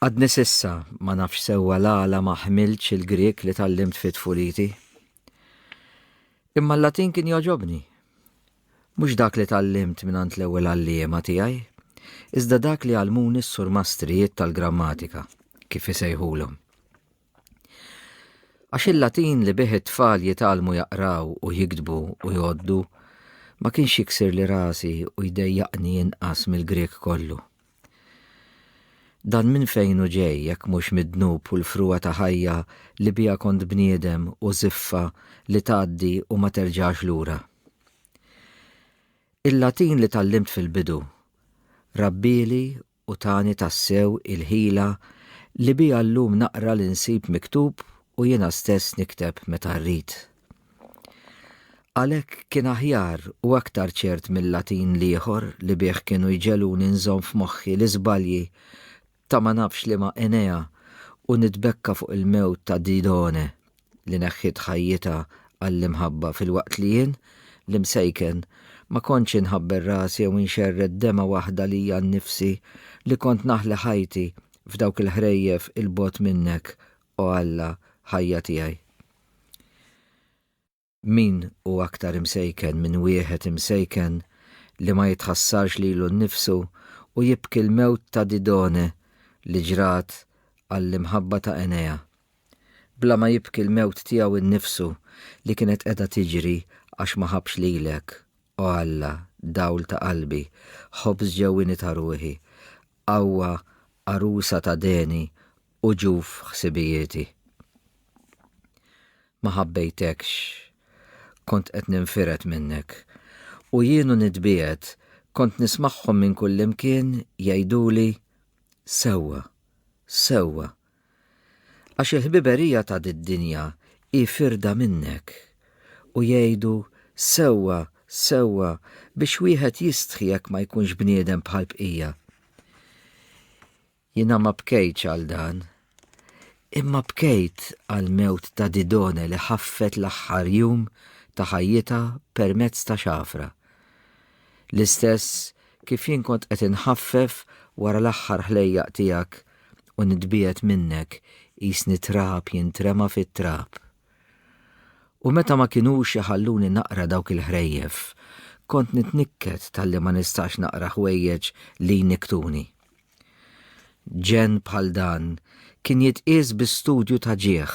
Għadni s'issa ma nafx sewwa l-għala ma ħmiltx il-Grieg li tgħallimt fi tfuliti. Imma l-Latin kien jogħġobni. Mhux dak li tgħallimt mingħand l-ewwel għalliema tiegħi, iżda dak li għallmuni s-surmastrijiet tal-grammatika, kif isejħulhom. Għax il-Latin li bih it-tfal jitgħallmu jaqraw u jiktbu u jgħoddu ma kienx jiksir li rasi u jdejjaqni inqas mill-Grieg kollu. Dan minn fejn hu ġej jekk mhux mid-dnub u l-frugħa ta' ħajja li biha kont bniedem u żiffa li tgħaddi u ma terġax lura? Il-Latin li tgħallimt fil-bidu rabbieli u tani tassew il-ħila li biha llum naqra li nsib miktub u jiena stess nikteb meta rrid. Għalhekk kien aħjar u aktar ċert mil-Latin l-ieħor li bih kienu jġegħluni nżomm f'moħħi l-iżbalji ta' ma nafx liema Enea u nitbekka fuq il-mewt ta' Didone li neħħiet ħajjitha għall-imħabba filwaqt li jien, l-imsejken, ma kontx inħabber rasi jew inxerred dema' waħda lija nnifsi li kont naħli ħajti f'dawk il-ħrejjef 'il bogħod minnek, o Alla, ħajja tiegħi. Min hu aktar imsejken minn wieħed imsejken li ma jitħassarx lilu nnifsu u jibki l-mewt ta' Didone li ġrat għall-imħabba ta' Enea, bla ma jibki l-mewt tiegħu nnifsu li kienet qiegħda tiġri għax ma ħabbx lilek, o Alla, dawl ta' qalbi, ħobż ġewwieni ta' ruħi, Qawwa għarusa ta' deni u ġuf ħsibijieti. Ma ħabbejtekx, kont qed ninfired minnek, u jien u nitbiegħed kont nismagħhom minn kullimkien jgħiduli, Sewwa, sewwa, Għax il-ħbiberija ta' did-dinja hi firda minnek. U jgħidu, Sewwa, sewwa, biex wieħed jistħi jekk ma jkunx bniedem bħall-bqija. Jiena ma bkejtx għal dan, imma bkejt għall-mewt ta' Didone li ħaffet l-aħħar jum ta' ħajjitha permezz ta' xafra. l-istess kif jien kont qed inħaffef wara l-aħħar ħlejjaq tiegħek u nitbiegħed minnek qisni trab jintrema fit-trab. U meta ma kinux iħalluni naqra dawk il-ħrejjef, kont nitnikket talli ma nistax naqra ħwejjeġ li jnikktuni. Ġenn bħal dan kien jitqies bi studju ta' ġieħ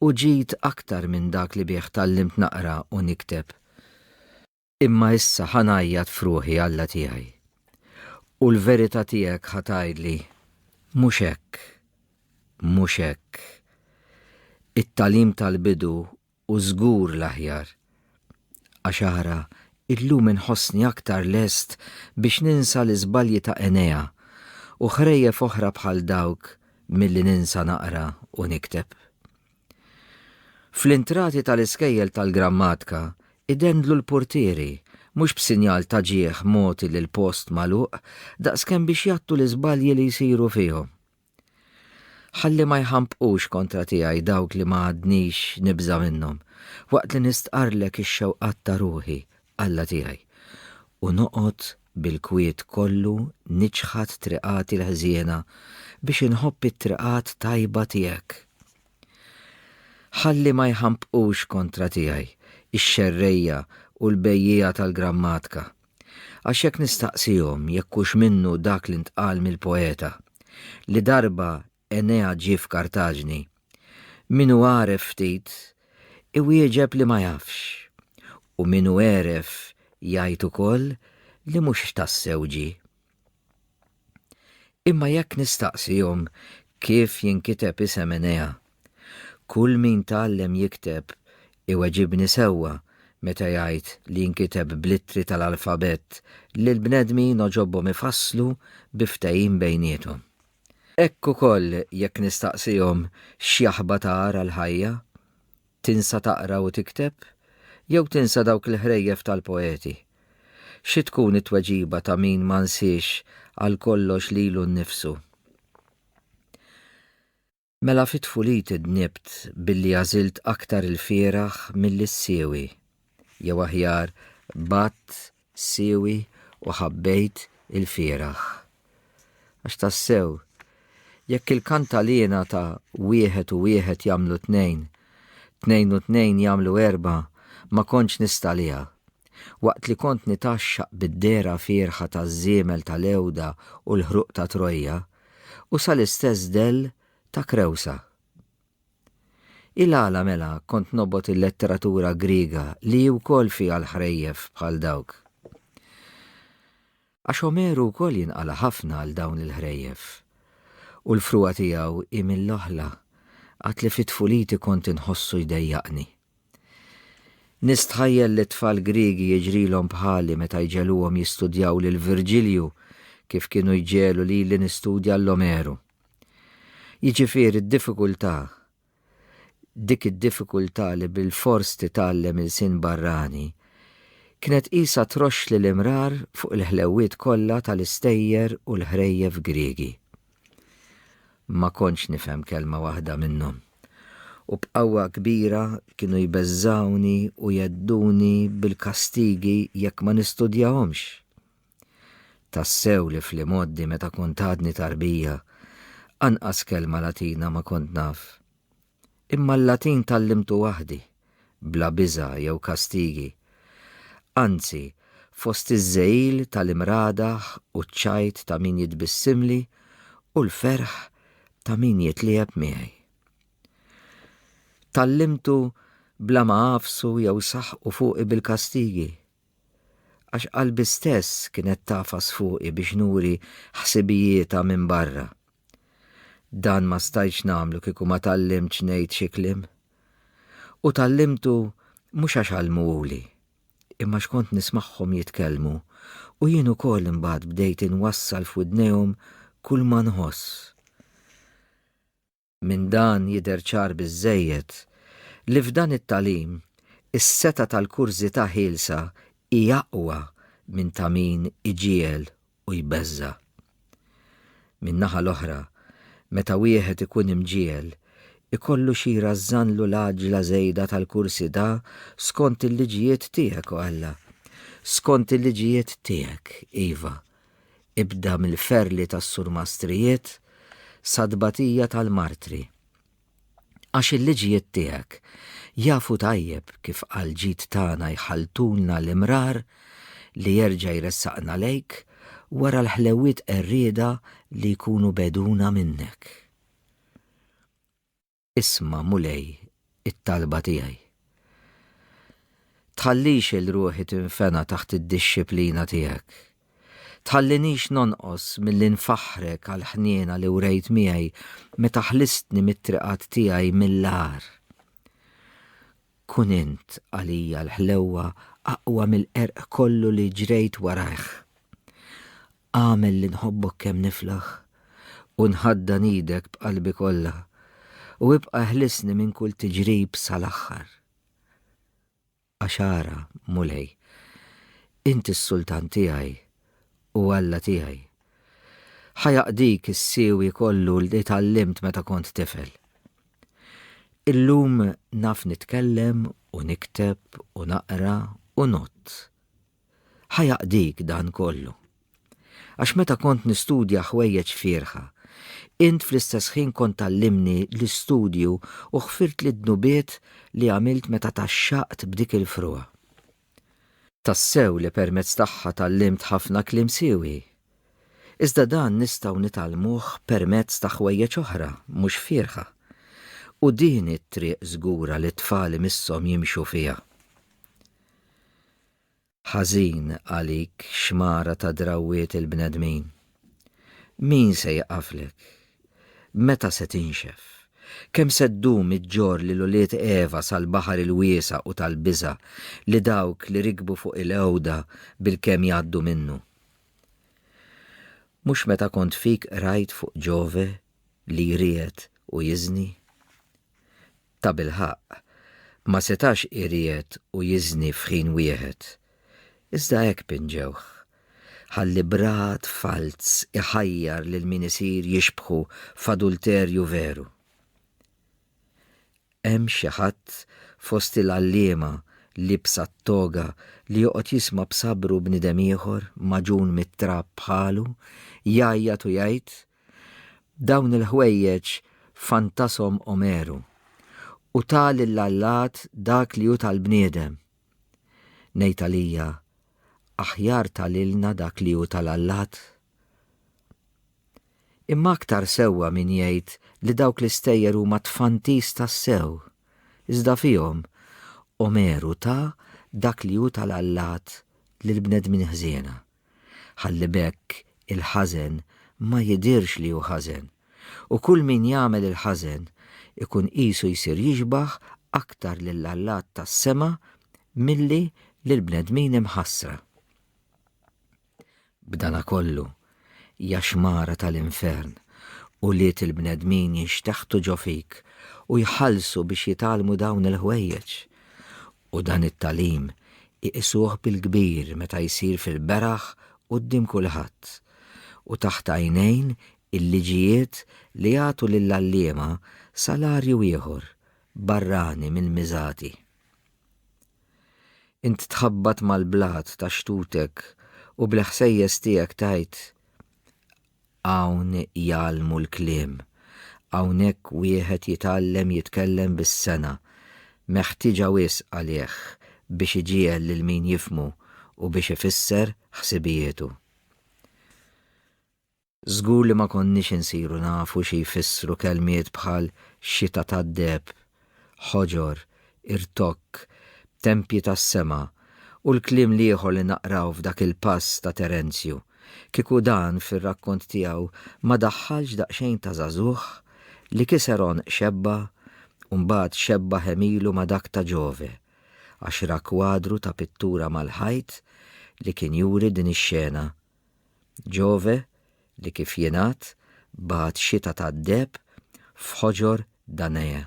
u ġid aktar minn dak li bih tgħallimt naqra u nikteb. Imma issa ħa ngħajjat f'ruħi, Alla tiegħi, u l-verità tiegħek ħa tgħidli, Mhux hekk, mhux hekk. It-tagħlim tal-bidu hu żgur l-aħjar. Għax ara, illum inħossni aktar lest biex ninsa l-iżbalji ta' Enea u ħrejjef oħra bħal dawk milli ninsa naqra u nikteb. Fl-intrati tal-iskejjel tal-grammatka idendlu l-purtieri, mhux b'sinjal ta' ġieħ mogħti lill-post magħluq, daqskemm biex jgħattu l-iżbalji li jsiru fihom. Ħalli ma jħampqux kontra tiegħi dawk li ma għadnix nibża' minnhom, waqt li nistqarrlek ix-xewqat ta' ruħi, Alla tiegħi, u noqgħod bil-kwiet kollu niċħad triqati l-ħżiena biex inħobb it-triqat tajba tiegħek. Ħalli ma jħampqux kontra tiegħi x-xerrejja u l-bejjiegħa tal-grammatka, għax jekk nistaqsihom jekk hux minnu dak li ntqal mill-poeta, li darba Enea ġie f'Kartaġni. Min hu għaref ftit, iwieġeb li ma jafx, u min hu għeref jgħid ukoll li mhux tassew ġie. Imma jekk nistaqsihom kif jinkiteb isem Enea, kull min tgħallem jikteb iweġibni sewwa meta jgħid li jinkiteb bl-ittri tal-alfabett li l-bnedmin għoġobhom ifasslu bi ftehim bejniethom. Hekk ukoll jekk nistaqsihom x'jaħba ta' għar għall-ħajja. Tinsa taqra u tikteb? Jew tinsa dawk il-ħrejjef tal-poeti? Xi tkun it-tweġiba ta' min ma nsiex għal kollox lilu nnifsu? Mela fi tfuliti dnibt billi għażilt aktar il-fieraħ milli s-siewi. Jew aħjar, bgħadt siewi u ħabbejt il-fieraħ. Għax tassew, jekk il-kantaliena ta' wieħed u wieħed jagħmlu tnejn, tnejn u tnejn jagħmlu erbgħa, ma kontx nistaliha. Waqt li kont nitgħaxxaq bid-dehra fierħa taż-żiemel tal-Għewda u l-ħruq ta' Trojja, u sal-istess dell ta' Krewsa. Il-għala mela kont nobgħod il-letteratura Griega li hi wkoll fiha l-ħrejjef bħal dawk? Għax Omeru wkoll jinqala' ħafna għal dawn il-ħrejjef. U l-frugħa tiegħu hi mill-oħla, għad li fi tfuliti kont inħossu jdejjaqni. Nistħajjel li t-tfal Griegi jiġrilhom bħali meta jġegħluhom jistudjaw lil Virġilju kif kienu jġegħlu lili nistudja 'l Omeru. Jiġifieri d-diffikultà, dik id-diffikultà li bilfors titgħallem ilsien barrani, kienet qisha troxxli l-imrar fuq il-ħlewwiet kollha tal-istejjer u l-ħrejjef Griegi. Ma kontx nifhem kelma waħda minnhom. U b'qawwa kbira kienu jbeżżgħuni u jgħedduni bil-kastigi jekk ma nistudjahomx. Tassew li fl-imgħoddi meta kont għadni tarbija, anqas kelma Latina ma kont naf. imma l-Latin tgħallimtu waħdi, bla biża' jew kastigi. Anzi, fost iż-żegħil tal-imradaħ u ċ-ċajt ta' min jitbissimli u l-ferħ ta' min jitliegħeb miegħi. Tgħallimtu bla ma għafsu jew saħqu fuqi bil-kastigi. Għax qalbi stess kienet tagħfas fuqi biex nuri ħsibijietha minn barra. Dan ma stajtx nagħmlu kieku ma tgħallimtx ngħid xi kliem. U tgħallimtu mhux għax għallmuhuli, imma x'kont nismagħhom jitkellmu u jien ukoll imbagħad bdejt inwassal f'widnejhom kulma nħoss. Minn dan jidher ċar biżżejjed li f'dan it-tagħlim is-setgħa tal-kurżità ħielsa hi aqwa minn ta' min iġiegħel u jbeżża'. Min-naħa l-oħra, meta wieħed ikun imġiegħel, ikollu xi rażżanlu l-għaġġla żejda tal-kursità skont il-liġijiet tiegħek, o Alla. Skont il-liġijiet tiegħek, iva. ibda mill-ferli tas-surmastrijiet sat-tbatija tal-martri. Għax il-liġijiet tiegħek jafu tajjeb kif għall-ġid tagħna jħalltulna l-imrar li jerġa' jressaqna lejk wara l-ħlewwiet qerrieda li jkunu begħduna minnek. Isma', Mulej, it-talba tiegħi. Tħallix il ruħi tinfena taħt id-dixxiplina tiegħek. Tħallinix nonqos milli nfaħħrek għall-ħniena li wrejt miegħi meta ħlistni mit-triqat tiegħi mill-agħar. Kun int għalija l-ħlewwa aqwa mill-qerq kollu li ġrejt warajh. Agħmel li nħobbok kemm niflaħ u nħaddan idek b'qalbi kollha u ibqa' ħlisni minn kull tiġrib sal-aħħar. Għax ara, Mulej, int is-Sultan tiegħi u Alla tiegħi. Ħa jaqdik is-siwi kollu li tgħallimt meta kont tifel. Illum naf nitkellem u nikteb u naqra u ngħodd. Ħa jaqdik dan kollu. Għax meta kont nistudja ħwejjeġ fierħa, int fl-istess ħin kont tgħallimni l-istudju u ħfirtli d-dnubiet li għamilt meta tgħaxxaqt b'dik il-frugħa. Tassew li permezz tagħha tgħallimt ħafna kliem siewi. Iżda dan nistgħu nitgħallmuh permezz ta' ħwejjeġ oħra mhux fierħa. U din hi t-triq żgura li t-tfal imisshom jimxu fiha. Ħażin għalik xmara ta' drawwiet il-bnedmin. Min se jieqaflek? Meta se tinxef? Kemm se ddum iġġorr lil ulied Eva sal-baħar il-wiesa' u tal-biża' li dawk li rikbu fuq il-għewda bilkemm jgħaddu minnu? Mhux meta kont fik qrajt fuq Ġove li jriegħed u jiżni? tabilħaqq, ma setax iriegħed u jiżni f'ħin wieħed. Iżda hekk pinġewh. Ħalli b'rahat falz iħajjar lil min isir jixbħu f'adulterju veru. Hemm xi ħadd fost il-għalliema liebsa t-toga li joqgħod jisma' b'sabru bniedem ieħor magħġun mit-trab bħalu jgħajjat u jgħid, Dawn il-ħwejjeġ fantashom Omeru, u ta lill-allat dak li hu tal-bniedem. Ngħid għalija, aħjar ta lilna dak li hu tal-allat? Imma aktar sewwa min jgħid li dawk l-istejjer huma tfantis tassew, iżda fihom Omeru ta dak li hu tal-allat lill-bnedmin ħżiena. ħalli b'hekk il-ħażen ma jidhirx li hu ħażen, u kull min jagħmel il-ħażen ikun qisu jsir jixbah aktar lil Alla tas-sema milli lill-bnedmin imħassra. B'danakollu, jaxmara tal-infern, ulied il-bnedmin jinxteħtu ġo fik u jħallsu biex jitgħallmu dawn il-ħwejjeġ. U dan it-tagħlim iqisuh bil-kbir meta jsir fil-beraħ quddiem kulħadd, u taħt għajnejn il-liġijiet li jagħtu lill-għalliema salarju ieħor barrani mill-miżati. Int tħabbat mal-blat ta' xtutek u bl-ħsejjes tiegħek tgħid, Hawn jgħallmu l-kliem. Hawnhekk wieħed jitgħallem jitkellem bis-sengħa, meħtieġa wisq għalih biex iġiegħel lil min jifhmu u biex ifisser ħsibijietu. Żgur li ma konniex insiru nafu xi jfissru kelmiet bħal xita tad-deheb ħoġor, irtokk, b'tempji tas-sema, u l-kliem l-ieħor li naqraw f'dak il-pass ta' Terenzju, kieku dan fir-rakkont tiegħu ma daħħalx daqsxejn ta' żagħżugħ li kiser għonq xebba u mbagħad xebba ħemilu ma' dak ta' Giove, għax ra kwadru ta' pittura mal-ħajt li kien juri din ix-xena. Ġove, li kif jingħad, bagħat xita tad-deheb f'ħoġor Danea.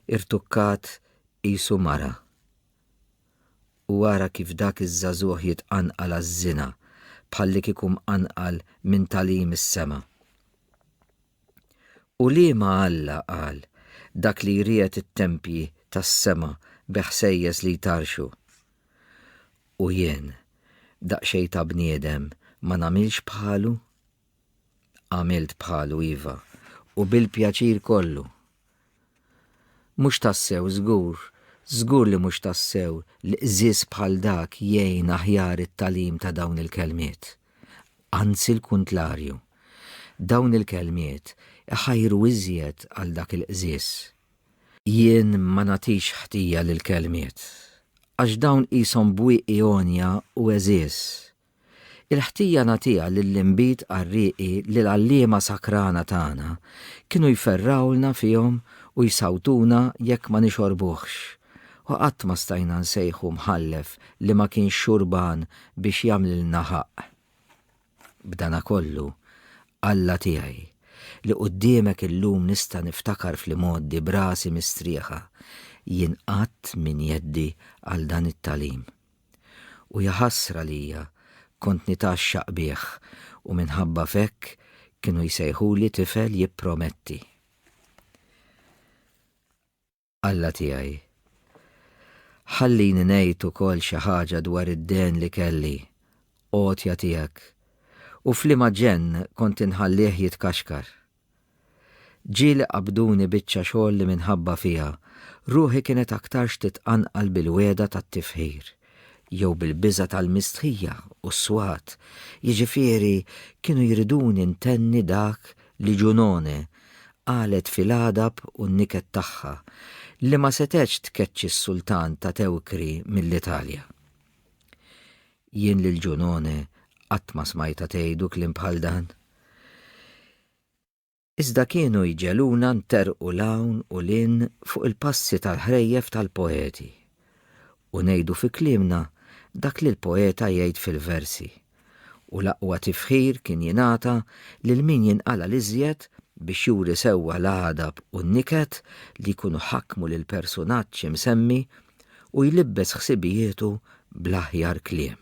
Irtukkat qisu mara. U ara kif dak iż-żagħżugħ jitqanqal għaż-żina bħallikieku mqanqal minn tagħlim is-sema. U liema Alla qal, Dak li jriegħed it-tempji tas-sema bi ħsejjes li jtarrxu? U jien, daqsxejn ta' bniedem, ma nagħmilx bħalu? Għamilt bħalu, iva, u bil-pjaċir kollu! Mhux tassew żgur, żgur li mhux tassew li qżież bħal dak jgħin aħjar it-tagħlim ta' dawn il-kelmiet. Anzi l-kuntlarju. Dawn il-kelmiet iħajru iżjed għal dak il-qżież. Jien ma nagħtix ħtija lill-kelmiet, għax dawn qishom bwieqi għonja u għeżież, Il-ħtija nagħtiha lill-inbid qarrieqi li l-għalliema sakrana tagħna kienu jferrawlna fihom u jsawtuna jekk ma nixorbuhx, u qatt ma stajna nsejħu mħallef li ma kienx xurban biex jagħmlilna ħaqq. B'danakollu, Alla tiegħi, li quddiemek illum nista' niftakar fl-imgħoddi b'rasi mistrieħa, jien qatt m'injeddi għal dan it-tagħlim. U ja ħasra lija, kont nitgħaxxaq bih, u minħabba f'hekk kienu jsejħuli tifel jipprometti. Alla tiegħi, ħallini ngħid ukoll xi ħaġa dwar id-dehn li kelli, għotja tiegħek, u f'liema ġenn kont inħallih jitkaxkar. Ġieli qabduni biċċa xogħol li minħabba fiha, ruħi kienet aktarx titqanqal bil-wegħda tat-tifħir, jew bil-biża' tal-mistħija u s-swat, jiġifieri kienu jriduni ntenni dak li Junone qalet fil-għadab u n-niket tagħha, li ma setgħetx tkeċċi s-Sultan ta' Tewkri mill-Italja. Jien lil Junone qatt ma smajtha tgħidu kliem bħal dan. Iżda kienu jġegħluna nterrqu 'l hawn u 'l hinn fuq il-passi tal-ħrejjef tal-poeti, u ngħidu fi kliemna dak li l-poeta jgħid fil-versi, u l-aqwa tifħir kien jingħata lil min jinqala' 'l iżjed biex juri sewwa l-għadab u n-niket li jkunu ħakmu lill-persunaġġ imsemmi u jlibbes ħsibijietu bl-aħjar kliem.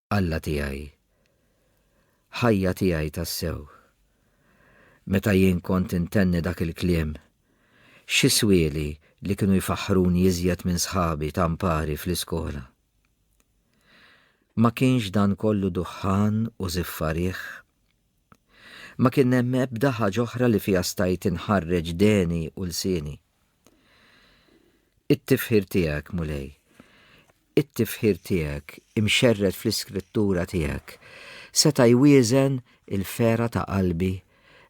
Alla tiegħi, ħajja tiegħi tassew. Meta jien kont intenni dak il-kliem, xi swieli li kienu jfaħħruni iżjed minn sħabi ta' mpari fl-iskola. Ma kienx dan kollu duħħan u żiffarigħ. Ma kien hemm ebda ħaġa oħra li fiha stajt inħarreġ deni u lsieni. It-tifħir tiegħek, Mulej, it-tifħir tiegħek imxerred fl-Iskrittura tiegħek seta' jwieżen il-fera ta' qalbi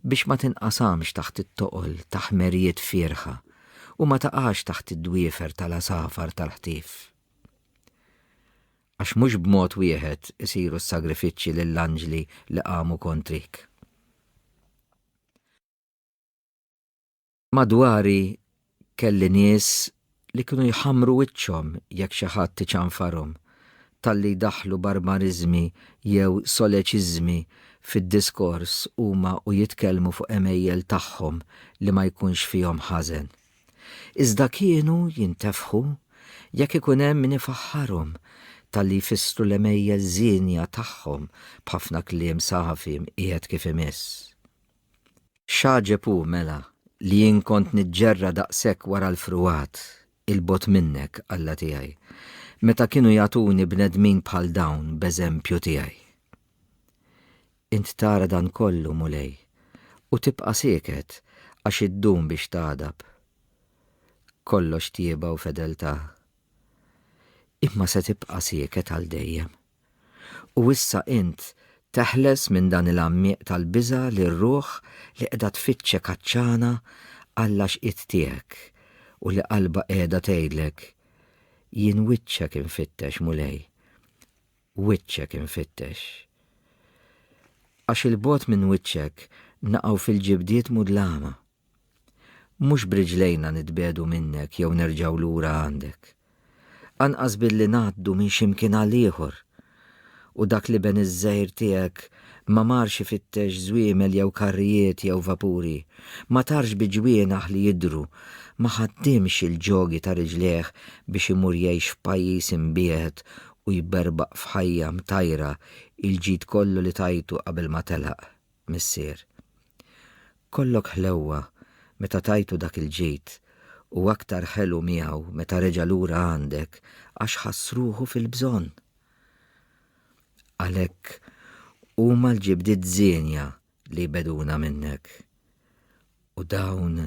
biex ma tinqasamx taħt it-toqol ta' ħmerijiet fierħa u ma taqax taħt id-dwiefer tal-għasafar tal-ħtif. Għax mhux b'mod wieħed isiru s-sagrifiċċji lill-anġli li qamu kontrik. Madwari kelli nies li kienu jħammru wiċċhom jekk xi ħadd iċanfarhom talli jdaħħlu barbariżmi jew soleċiżmi fid-diskors huma u jitkellmu fuq għemejjel tagħhom li ma jkunx fihom ħażen. Iżda kienu jintefħu jekk ikun hemm min ifaħħarhom talli jfissru l-għemejjel żienja tagħhom b'ħafna kliem safi mqiegħed kif imiss. X'għaġeb hu, mela, li jien kont niġġerra daqshekk wara l-fruwat 'il bogħod minnek, Alla tiegħi, meta kienu jagħtuni bnedmin bħal dawn b'eżempju tiegħi? Int tara dan kollu, Mulej, u tibqa' sieket għax iddum biex tagħdab. Kollox tjieba u fedeltà. Imma se tibqa' sieket għal dejjem. U issa int teħles minn dan il-għammieq tal-biża' lir-ruħ li qiegħda tfittxek għatxana Alla x'qiegħed tiegħek u li qalbha qiegħda tgħidlek, Jien wiċċek infittex, Mulej, wiċċek infittex. Għax 'il bogħod minn wiċċek naqgħu fil-ġibdiet mudlama. Mhux b'riġlejna nitbiegħdu minnek jew nerġgħu lura għandek. Anqas billi ngħaddu minn xi mkien għal ieħor. U dak l-iben iż-żgħir tiegħek ma marx ifittex żwiemel jew karrijiet jew vapuri, ma tarx bi ġwienaħ li jidhru, ma ħaddimx il-ġogi ta' riġlejh biex imur jgħix f'pajjiż imbiegħed u jberbaq f'ħajja mtajra il-ġid kollu li tajtu qabel ma telaq. Missier. Kollok ħlewwa meta tajtu dak il-ġid u aktar ħelu miegħu meta reġa' lura għandek għax ħass ruħu fil-bżonn. Għalhekk huma l-ġibdiet żienja li jbegħduna minnek. U dawn